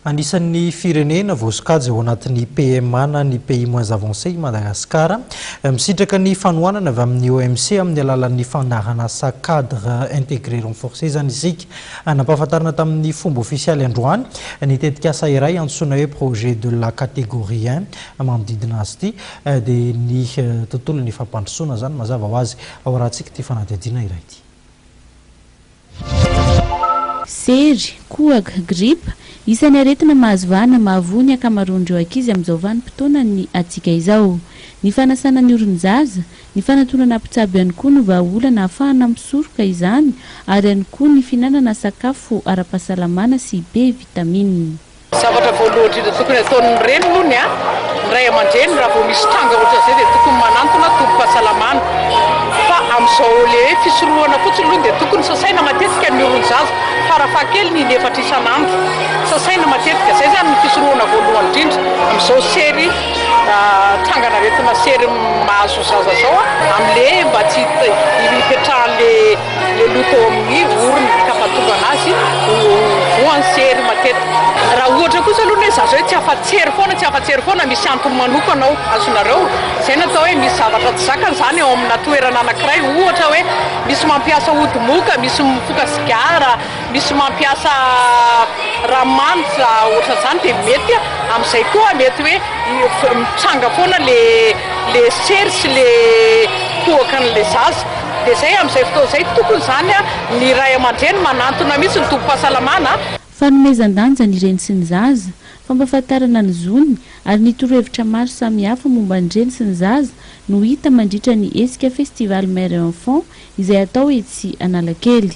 Anisan'ny firenena voasokajy ao anatin'ny PMA na ny Pays Moins Avancés i Madagasikara. Misitraka ny fanohanana avy amin'ny OMC amin'ny alalan'ny fandaharan'asa Cadre Intégré Renforcé izany isika. Nampahafantarina tamin'ny fomba ofisialy androany ny tetikasa iray antsoina hoe Projet de la Catégorie un. Manodidina azy ity dia ny tontolon'ny fampandrosoana izany mazava ho azy. Ao rahantsika ity fanadihadiana iray ity. Sery, kohaka, gripa, isan'ny aretina mahazo vahana mahavoa ny ankamaroan'ireo ankizy amin'izao vanim-potoanan'ny hatsiaka izao. Ny fanasana ny oron'ny zaza, ny fanatonana mpitsabo ihany koa no vahaolana ahafahana misoroka izany ary ihany koa ny fihinanana sakafo ara-pahasalamana sy be vitamina. Zavatra voalohany indrindra tokony ataon'ny reny aloha ny ahy, ny ray aman-dreny raha vao misy tranga ohatran'izay dia tokony manantona tobim-pahasalamana fa amin'izao le hoe fisorohana fotsiny aloha dia tokony sasaina matetika ny olon-jaza farafahakeliny in'efatra isan'andro, sasaina matetika, izay izany ny fisorohana voalohany indrindra amin'izao sery trangan'aretina sery mahazo zaza izao amin'ny le mba tsy hipetrahan'le. Ny aloto ao amin'ny orona ka mahatonga azy ho voan'ny sery matetika. Raha ohatra kosa aloha ny hoe za zao tsy afa-tsery foana, tsy afa-tsery foana, misy antony manokana ao, azonareo? Izay no atao hoe misy zavatra tsy zakany izany ao amina toerana anankiray. Ohatra hoe misy mampiasa ody moka, misy mifoka sigara, misy mampiasa ranomanitra ohatran'izany dia mety amin'izay koa mety hoe mitranga foana ilay sery sy ilay kohaka an'ilay zaza. Dia zay amin'izay fotoana izay tokony izany ny ray aman-dreny manantona mihitsy ny tobim-pahasalamana. Fanomezan-danja ny reny sy ny zaza, fampahafantarana ny zony ary ny torohevitra maro samihafa momba ny reny sy ny zaza no hita mandritra ny hetsika Festival Mère et Enfant izay atao etsy Analakely.